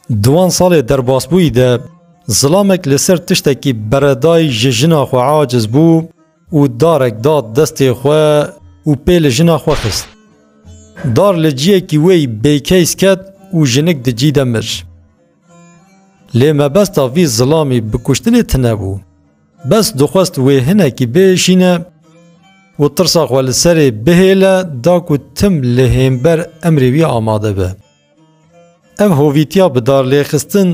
Di wan salê derbasbûyî de zilamek li ser tiştekî beredayî ji jina xwe aciz bû û darek da destê xwe û pê li jina xwe xist. Dar li ciyekî wê yî bêkeys ket û jinik di cî de mir. Lê mebesta vî zilamî bi kuştinê tine bû. Bes dixwest wê hinekî biêşîne û tirsa xwe li serê bihêle da ku tim li hênber emrê wî amade be. Ev hovîtiya bi darlêxistin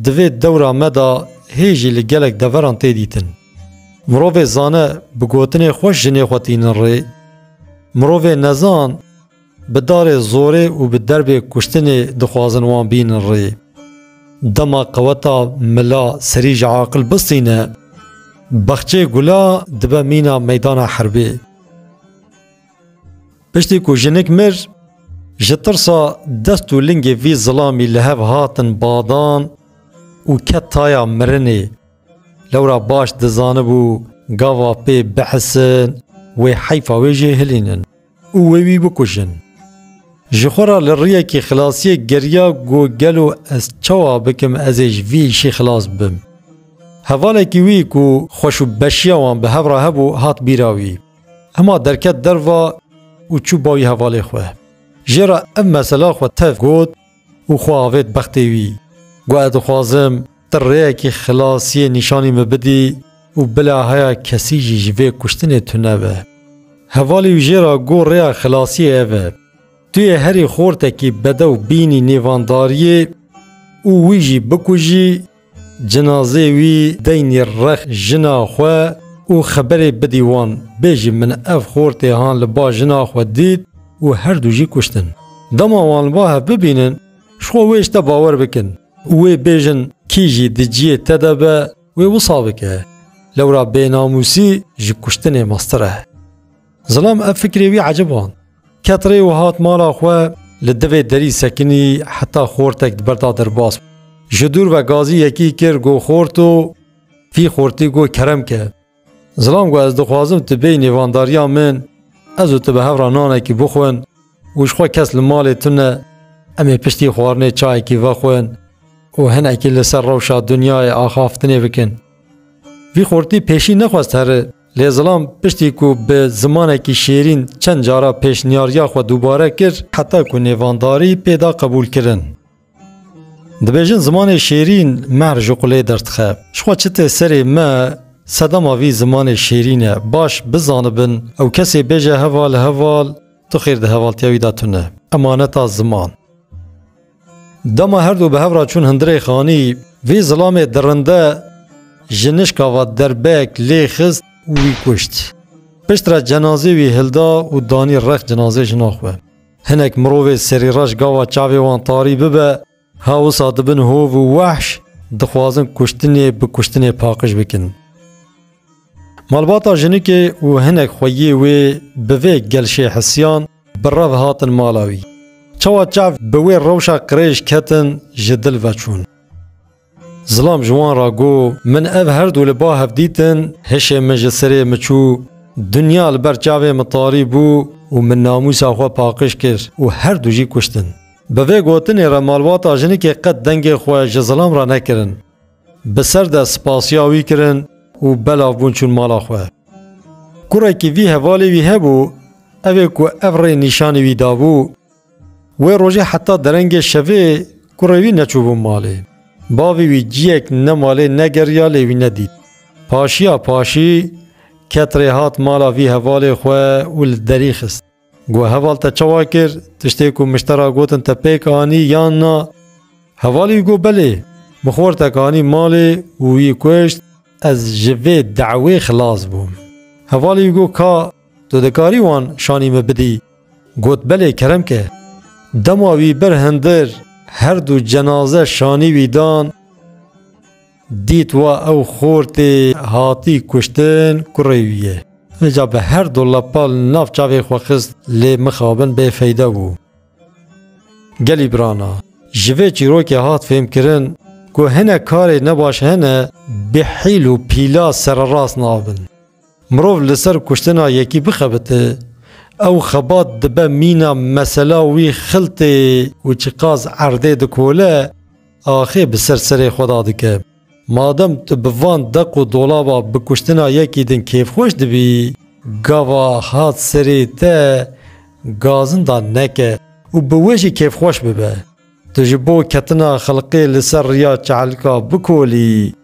di vê dewra me de hê jî li gelek deveran tê dîtin. Mirovê zane bi gotinê xweş jinê xwe tînin rê, mirovê nezan, Bi darê zorê û bi derbê kuştinê dixwazin wan bînin rê. Dema qeweta mila serî ji aqil bistîne, Baxçeyê Gula dibe mîna meydana herbê. Piştî ku jinik mir, ji tirsa dest û lingê vî zilamî li hev hatin badan û ket taya mirinê. Lewra baş dizanibû gava pê bihisin wê heyfa wê jê hilînin. û wê wî bikujin. Ji xwe re li riyekî xilasiyê geriya ku gelo ez çawa bikim ez ê ji vî îşî xilas bim. Hevalekî wî ku xweş û beşiya wan bi hev re hebû hat bîra wî. Hema derket derva û çû bawî hevalê xwe. Jê re ev mesela xwe tev got, û xwe avêt bextê wî. Got ez dixwazim tu rêyekî xilasiyê nîşanî min bidî û bila heya kesî jî ji vê kuştinê tunebe. Hevalê wî jê re got rêya xilasiyê ev e. Tu yê herî xortekî bedew bînî nêvandariyê û wî jî bikujî, Cinazê wî deynî rex jina xwe û xeberê bidî wan, bêjî min ev xortê han li ba jina xwe dît û herdû jî kuştin. Dema wan li ba hev bibînin, ji xwe wê ji te bawer bikin û wê bêjin kî jî di ciyê te de be wê wisa bike. Lewra bênamûsî ji kuştinê mestir e. Zilam ev fikrê wî eciband. Ket rê û hat mala xwe, li divê derî sekinî heta xortek di ber da derbas bû. Ji dûr ve gazî yekî kir got xorto, vî xortî got kerem ke. Zilam got ez dixwazim tu bêyî nêvandariya min, ez û tu bi hev re nanekî bixwin û jixwe kes li malê tune, em ê piştî xwarinê çayekî vexwin û hinekî li ser rewşa dinyayê axaftinê bikin. Vî xortî pêşî nexwest here. Lê Zilam piştî ku bi zimanekî şêrîn çend cara pêşniyariya xwe dubare kir heta ku nêvandarî pê da qebûlkirin. Dibêjin zimanê şêrîn mehr ji qulê derdixe. Jixwe çi tê serê me sedema vî zimanê şêrîn e. Baş bizanibin ew kesê bêje heval heval tu xêr di hevaltiya wî de tune. Emaneta ziman. Dema her du bi hev re çûn hundirê xanî, vî zilamê dirinde ji nişka ve derbek lê xist û wî kuşt. Pişt re cenazê wî hilda û danî rex cinazê jina xwe. Hinek mirovê serîreş gava çavê wan tarî bibe, ha wisa dibin hov û wehş, dixwazin kuştinê bi kuştinê paqij bikin. Malbata jinikê û hinek xweyê wê bi vê gelşê hisiyan, Bi rev hatin mala wî. Çawa çav bi wê rewşa qirêj ketin ji dil veçûn. Zilam ji wan re got, Min ev her du li ba hev dîtin, hişê min ji sirê min çû. Dinya li ber çavê min tarî bû û min namûsa xwe paqij kir û her du jî kuştin. Bi vê gotinê re malbata jinikê qet dengê xwe ji zilam re nekirin. Bi ser de spasiya wî kirin û belav bûn çûn mala xwe. Kurekî vî hevalê wî hebû, ev ê ku ev rê nîşanî wî dabû, wê rojê heta derengê şevê kurê wî neçûbû malê. Bavê wî ciyek ne malê ne geriya lê wî nedît. Paşiya paşî ket rê hat mala vî hevalê xwe û li derî xist. Got heval te çawa kir? Tiştê ku miştera gotin te pêk anî yan na? Hevalî got belê. Min xortek anî malê û wî kuşt. Ez ji vê dewê xilas bûm. Hevalî got ka tu dikarî wan şanî min bidî? Got belê kerem ke. Dema wî bir hindir her du cenaze şanî wî dan. Dît wa ew xor tê hatî kuştin kurê wî ye. Min ca bi her du lepal nav çavê xwe xist lê mixabin bê feyde bû. Gelî birana, ji vê çîrokê hat fêmkirin ku hinek karê nebaş hene bi hîl û pîla sererast nabin. Mirov li ser kuştina yekî bixebite, ew xebat dibe mîna mesela wî xiltê û çiqas erdê dikole, Axê bi ser serê xwe da dike. Madem tu bi van deq û dolaba bi kuştina yekî din kêfxweş dibî, gava hat serê te gazinda neke û bi wê jî kêfxweş bibe. Tu ji bo ketina xelqê li ser riya çehlika bikolî